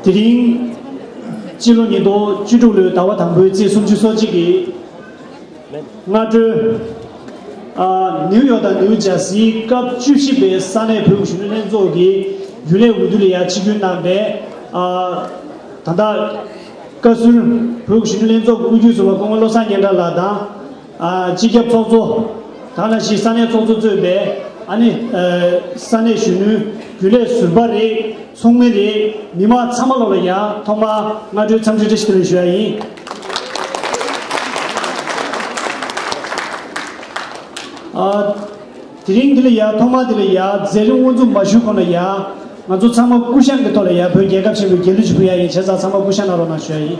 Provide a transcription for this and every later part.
དེ་རིང། སྤྱི་ལོ་ཉིས་སྟོང་བཅུ་དྲུག་ལོའི་ཟླ་བ་དང་པོའི་ཚེས་སུམ་ཅུ་སོ་གཅིག་གི་སྔ་དྲོ། ནིའུ་ཡོག་དང་ནིའུ་ཇར་སིའི་སྐབས་བཅུ་བཞི་པའི་ས་གནས་བོད་གཞོན་ནུ་ལྷན་ཚོགས་ཀྱི་རྒྱུན་ལས་འོས་བསྡུ་ལ་ཡང་ཆིག་སྒྱུར་གནང་སྟེ། ད་ལྟ། བཀའ་ཟུར་བོད་གཞོན་ནུ་ལྷན་ཚོགས་ཀྱི་དབུ་འཁྱུད་ཟུར་བ་སྐུ་ངོ་བློ་བཟང་སྙན་གྲགས་ལགས་དང། སྤྱི་ཁྱབ་ཚོགས་གཙོ། ག་ལ་ཞིག་ས་གནས་ཚོགས་གཙོ་གཙོས་པའི་ཨ་ནི། ས་གནས་གཞོན་ནུའི་རྒྱུན་ལས་ཟུར་པ་རེད་ཚོགས་མི་རེད་མི་དམངས་ཚང་མ་ལོག་ལ་ཡང་ཐོག་མར་སྔ་དྲོའི་འཚམས་འདྲི་འདྲི་ཞིག་དེ་ལས་ཞུ་ཡ་ཡིན། དེ་རིང་དེ་ལ་ཡ་ཐོག་མར་དེ་ལ་ཡ་རྫས་རིམ་དབུ་འཛུགས་མ་ཞུ་གོང་ལ་ཡ་ང་ཚོ་ཚང་མ་སྐུ་ཞང་གི་ཐོག་ལ་ཡ་བོད་རྒྱལ་ཁབ་ཆེན་པོའི་རྒྱལ་གླུ་ཞིག་ཕུལ་ཡ་ཡིན་བྱས་ཙང་ཚང་མ་སྐུ་ཞང་ན་རོགས་གནང་ཞུ་ཡ་ཡིན།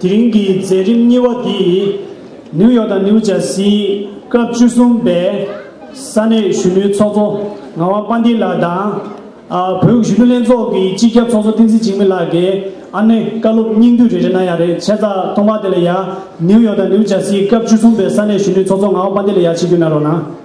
དེ་རིང་གི་མཛད་རིམ་གཉིས་བ་འདི་ནིའུ་ཡོག་དང་ནིའུ་ཇར་སིའི་སྐབས་བཅུ་གསུམ་པའི་ས་གནས་གཞོན་ནུའི་ཚོགས་གཙོ་ངག་དབང་དཔལ་ལྡན་ལགས་དང། བོད་གཞོན་ནུ་ལྷན་ཚོགས་ཀྱི་སྤྱི་ཁྱབ་ཚོགས་གཙོ་བསྟན་འཛིན་འཇིགས་མེད་ལགས་ཀྱི་ཨ་མའི་བཀའ་སློབ་སྙིང་བསྡུས་རེ་རེ་གནང་ཡག་རེད་བྱས་ཙང་སྟོང་པ་དེ་ལ་ཡག་ནིའུ་ཡོག་དང་ནིའུ་ཇར་སིའི་སྐབས་བཅུ་གསུམ་པའི་ས་གནས་གཞོན་ནུའི་ཚོགས་གཙོ་ངག་དབང་དཔལ་ལྡན་ལ་ཡག་བྱེད་རྒྱུ་གནང་རོགས་གནང།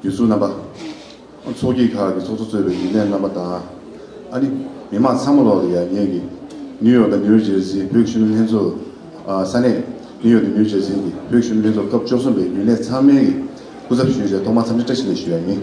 བརྒྱུད་ཚུལ་རྣམ་པ། ཚོགས་སྐྱིད་ཁག་གི་ཚོགས་གཙོ་གཙོས་པའི་རྒྱུན་ལས་རྣམ་པ་དང། ཨ་རི་མི་དམངས་ཚང་མ་ལོགས་ལ་ཡར་ཉེ་གི། ནིའུ་ཡོག་དང་ནིའུ་ཇེར་སིའི་བོད་གཞོན་ནུ་ལྷན་ཚོགས། ས་གནས། ནིའུ་ཡོག་དང་ནིའུ་ཇེར་སིའི་བོད་གཞོན་ནུ་ལྷན་ཚོགས་སྐབས་བཅུ་གསུམ་པའི་རྒྱུན་ལས་ཚང་མའི་གི་སྐུ་ཚབ་ཞུས་ཆེད་ཐོག་མར་འཚམས་འདྲི་བཀྲ་ཤིས་བདེ་ཞུ་ཡག་ཡིན།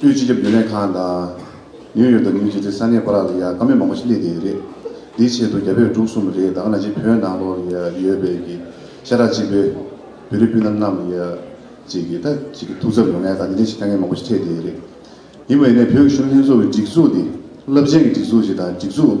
ཅུའི་སྤྱི་ཁྱབ་རྒྱུན་ལས་ཁང་དང། ཉོས་ཡོད་དང་ཉོས་རྗེས་ཀྱི་ས་གནས་བར་ལ་ཡང་དཀའ་མེད་མང་པོ་ཞིག་སླེབས་བསྡད་ཡོད་རེད། དེའི་ཆེད་དུ་རྒྱ་བོད་འབྲུག་གསུམ་རེ་དང་ན་གཞིས་བོད་ནང་ལོགས་ལ་ཡོད་པའི་གི་ཤ་ཁྲག་གཅིག་པའི་བོད་རིགས་སྤུན་ཟླ་རྣམས་ལ་ཅིག་གིས་ད་ཅིག་གི་ཐུགས་འཚབ་ཡོང་ངེས་དང་དེ་འདྲའི་ཞིག་དཀའ་ངལ་མང་པོ་ཞིག་འཕྲད་བསྡད་ཡོད་རེད། ཡིན་པ་ཡིན་ནའི་བོད་ཀྱི་གཞོན་ལྷན་ཚོགས་ཀྱི་སྒྲིག་འཛུགས་འདི་རླབས་ཆེན་གྱི་སྒྲིག་འཛུགས་ཤིག་དང་སྒྲིག་འཛུགས།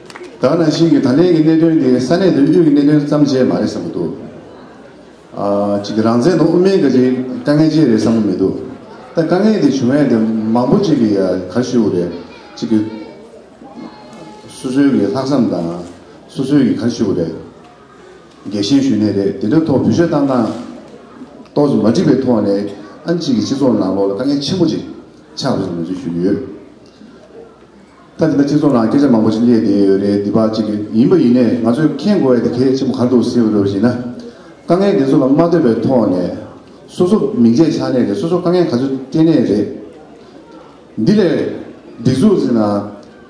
གང་ནང་བཞིན་གྱི་ད་ལན་གྱི་གནད་དོན་དེ་ས་གནས་དོན་གཅོད་ཀྱི་གནད་དོན་བརྩམས་བྱས་མ་རེད་བསམ་གྱི་འདུག་གཅིག་རང་བཙན་དང་དབུ་མའི་དཀའ་ཁྲིའི་དཀའ་ངལ་བཅས་རེད་བསམ་གྱི་མི་འདུག་ད་དཀའ་ངལ་དེ་བྱུང་ཡས་དེ་མང་པོ་གཅིག་གི་གར་ཞུ་བ་རེད་གཅིག་གི་སོ་སོའི་གི་ལྷག་བསམ་དང་སོ་སོའི་གི་གར་ཞུ་བ་རེད་རྒྱལ་ཞེན་ཞུ་ནས་རེད་དེ་འདྲ་ཐོག་བུ་ཞོད་བཏང་སྟངས་ཏོག་ཙམ་མ་འགྲིག་པའི་ཐོག་ནས་ཨ་མཆིས་ཀྱི་སྤྱི་ཚོགས་ནང་ལོག་ལ་དཀའ་ངལ་ཆེན་པོ་གཅིག་ཆགས་འདུག་ཅེས་ངོས་འཛིན་ཞུ་གི་ཡོད། ད་དེ་འདྲ་ཁྱེད་ཚོ་ལའང་སྐད་ཆ་མང་པོ་ཞིག་བསླེས་བསྡད་ཡོད་རེད་འདི་བག་ཅི་གི་ཡིན་པ་ཡིན་ནས་ང་ཚོས་མཁྱེན་དགོས་ཡ་དེ་གལ་ཆེན་པོ་ག་འདུག་ཟེར་བ་རེད་བ་ཞིག་ན། དཀའ་ངལ་འདི་ཚོ་ལ་མ་བལྟོས་པའི་ཐོག་ནས། སོ་སོ་མིང་ཆད་ཆགས་ནས་རེད་སོ་སོ་དཀའ་ངལ་ག་ཚོད་སྤྲད་ནས་རེད། འདི་ལས་སྒྲིག་འཛུགས་ཟེར་ན།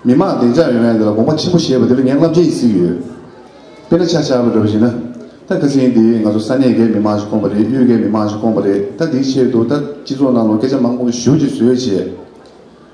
མི་མང་བདེ་འཇགས་ཡོང་ཡ་འདི་ལ་དགོངས་པ་ཆེན་པོ་བཞེས་པ་འདི་ལ་ངས་བསླབ་བྱའི་ཡིད་ཚིག་ཡོད། དཔེར་ན་ཆ་བཞག་པ་རེད་བ་ཞིག་ན། ད་གྷི་སིའི་འདི་ང་ཚོ་ས་གནས་འགའི་མི་མང་ཞིག་བསྐོངས་པ་རེད་གཡུལ་འགའི་མི་མང་ཞིག་བསྐོངས་པ་རེད་ད་འདིའི་ཆེད་དུ་ད་སྤྱི་ཚོགས་ནང་ལོ་སྐད་ཆ་མང་པོ་ཞུ་ཅི་ཟོས་བྱས།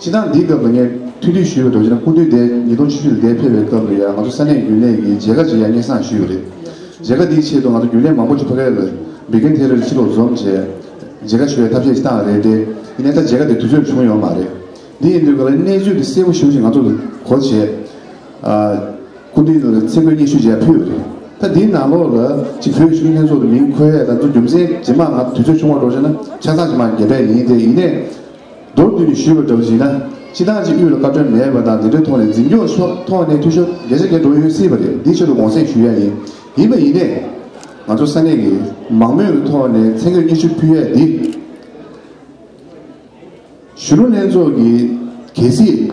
སྤྱིར་བཏང་འདིའི་སྐབས་ལ་ངས་ཐུགས་འདུད་ཞུས་པའི་གྲོགས་ཅན་ནི་སྐུ་མདུན་སྡེ་ཉིས་སྟོང་ཆུ་ཤུར་ལས་ཕེབས་པའི་སྐབས་ལ་ཡང་ང་ཚོ་ས་གནས་རྒྱུན་ལས་ཀྱི་མཇལ་ཁ་ཅིག་ཡང་སྙན་སང་ཞུས་པ་རེད། མཇལ་ཁ་འདིའི་ཆེད་དུ་ང་ཚོ་རྒྱུན་ལས་མང་པོ་ཅིག་ཕ་ཁེ་ལ་སྦིར་གན་དྷེ་རར་ཕྱིར་ལོག་འཛོམས་རྗེས། མཇལ་ཁ་ཞུ་བའི་ཐབས་ཤེས་ཅིག་བཏང་བ་རེད་དེ། ཡིན་ན་ད་མཇལ་ཁ་དེ་དུས་ཚོད་བྱུང་ཡོད་མ་རེད། འདི་ཡིན་དུས་ག་ལེར་གནས་ཚུལ་དེ་གསལ་པོ་ཞུ་ཞེས་ང་ཚོར་གོ་བྱས། སྐུ་མདུན་ལ་ཚེ་བསྐོས་སྙན་ཞུ་མཇལ་ཕུལ་བ་རེད། ད་འདིའི་ནང་ལོགས་ལ་ཅིག་བོད་གཞུང་ལྷན་ཚོགས་ཀྱི་མིང་འཁོད་ཡས་ལ་འཛུགས་རྒྱུ་མཚན་ཇེ་མང་ང་དུས་ཚོད་ཆུང་བ་གྲོགས་ཅན་ན་ཆ་ཚང་ཇེ་མང་རྒྱས་པས་ཡིན་ཏེ་ཡིན་ནས། མདོར་བསྡུས་ནས་ཞུས་པ་འདྲ་བ་ཞིག་ན་སྤྱི་བཏང་ཅིག་དབུས་ལ་བཀའ་དྲོན་མེད་པ་དང་དེ་འདྲའི་ཐོག་ནས་འཛིན་སྐྱོང་ཕྱོགས་ཐོག་ནས་འཐུས་ཤོར་གལ་ཆེ་གལ་འགྲོ་ཡོད་སྲིད་པ་རེད་འདི་ཆེད་དུ་དགོངས་སེལ་ཞུ་ཡ་ཡིན་ཡིན་པ་ཡིན་ནས། ང་ཚོ་ས་གནས་ཀྱི་མང་མོས་ཀྱི་ཐོག་ནས་མཚན་བརྗོད་སྙན་ཞུ་ཕུལ་ཡ་འདི། གཞོན་ནུ་ལྷན་ཚོགས་ཀྱི་གལ་སྲིད།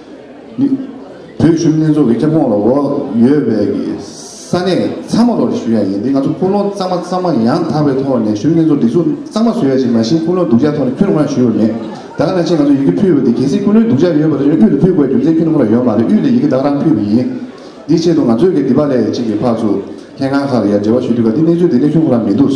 བོད་ཆུ་གནས་འཛོགས་ཀྱི་ཁྱབ་ཁོངས་ལ་འོག་ཡོད་པའི་ས་གནས་ཚང་མ་ལོགས་ཀྱི་ཞུ་ཡག་ཡིན་ཏེ་ང་ཚོ་ཁུངས་ལུང་གཙང་མ་གཙང་མ་ཡང་དག་པའི་ཐོག་ནས་ཆུ་གནས་འཛོགས་སྒྲིག་འཛུགས་གཙང་མ་བཟོ་ཡག་ཅིག་མ་གཞི་ཁུངས་ལུང་སྡུག་ཅག་ཐོག་ནས་ཁྱོན་ནང་ཞུ་ཡོད་མེད་ད་ག་ནས་ཕྱིན་ང་ཚོ་ཡི་གེ་ཕུལ་བ་དེ་གལ་སྲིད་ཁུངས་ལུང་སྡུག་ཅག་ཡོད་པ་དེ་ཆུ་དབུས་ལ་ཕུལ་དགོས་རྒྱུ་མཚན་ཁྱོན་ནང་ལ་ཡོད་མ་རེད་དབུས་ལ་ཡི་གེ་བདག་རང་ཕུལ་བ་ཡིན། དེའི་ཆེད་དུ་ང་ཚོས་གལ་ཏེ་པ་ལས་གཅིག་གི་ཕག་ཚུགས་ལྷན་ཁང་ཁག་ལ་ཡར་འབྲེལ་བ་ཞུས་དུས་ག་དེའི་གནས་ཚུལ་དེ་ནི་ཁྱོན་ཁོ་ན་མི་འདུག།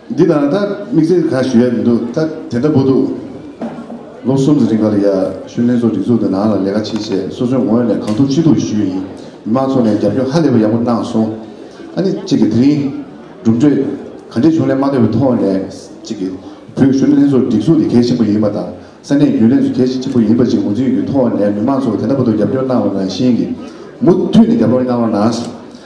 འདི་དང་ད་དམིགས་བསལ་གང་ཞུ་ཡག་མི་འདུག་ད་དེ་འདྲ་པོ་འདུག་ལོ་གསུམ་གྱི་རིང་གར་ཡག་ཤུལ་ལྷན་ཚོགས་སྒྲིག་འཛུགས་དང་ནང་ལ་ལས་ཀ་ཆེ་ཆེ་སོ་སོའི་ངོས་ནས་གང་ཐུབ་ཅི་ཐུབ་ཞུས་ཡིན་མི་མང་ཚོགས་ནས་རྒྱབ་སྐྱོར་ཧ་ལས་པ་ཡག་པོ་གནང་སོང་ཨ་ནི་གཅིག་གིས་དེ་རིང་གྲུབ་འབྲས་ག་འདྲས་བྱུང་ལས་མ་འདས་པའི་ཐོག་ནས་གཅིག་གིས་བོད་ཤུལ་ལྷན་ཚོགས་སྒྲིག་འཛུགས་དེ་གལ་ཆེན་པོ་ཡིན་པ་དང་ས་གནས་རྒྱུན་ལས་སུ་གལ་ཆེན་པོ་ཡིན་པ་གཅིག་ངོས་འཛིན་གྱི་ཐོག་ནས་མི་མང་ཚོགས་དེ་འདྲ་པོ་འདུག་རྒྱབ་སྐྱོར་གནང་བ་ནང་བཞིན་གྱིས་མུ་མཐུད་ནས་རྒྱབ་སྐྱོར་གནང་བ་ནང་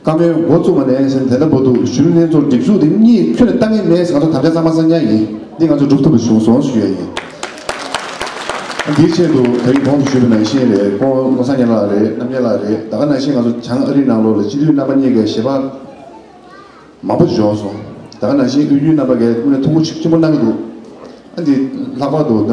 བཀའ་མོལ་མགོ་བཙུགས་མ་ནས་སེམས་དེ་ལྟ་བུ་འདུག་གཞོན་ནུ་ལྷན་ཚོགས་སྒྲིག་འཛུགས་དེ་གཉིས་ཁྱོད་ལྟ་ངན་མེད་ཟེར་ག་ཚོད་དམ་བཅའ་གཙང་མ་གཙང་སྙན་ཡིན་འདི་ང་ཚོས་འགྲུབ་ཐུབ་པ་བྱུང་སོང་ཞུ་ཡ་ཡིན། འདིའི་ཆེད་དུ་ད་རིང་གོང་དུ་ཞུས་པའི་ནང་བཞིན་རེད་ཁོང་ལོ་སང་ཉིན་ལགས་རེད་གནམ་ཉེ་ལགས་རེད་ད་ག་ནང་བཞིན་ང་ཚོ་བྱང་ཨ་རིའི་ནང་ལོགས་ལ་སྤྱི་འཐུས་རྣམ་པ་གཉིས་ཀའི་ཞལ་འབག་མང་པོ་བཞོག་སོང་ད་ག་ནང་བཞིན་དབུས་རྒྱུན་རྣམ་པ་འགའི་དངུལ་ལས་ཐུགས་ཁུར་ཆེན་པོ་གནང་གི་འདུག་ཨ་འདི་ལྷག་པར་དུ་ད།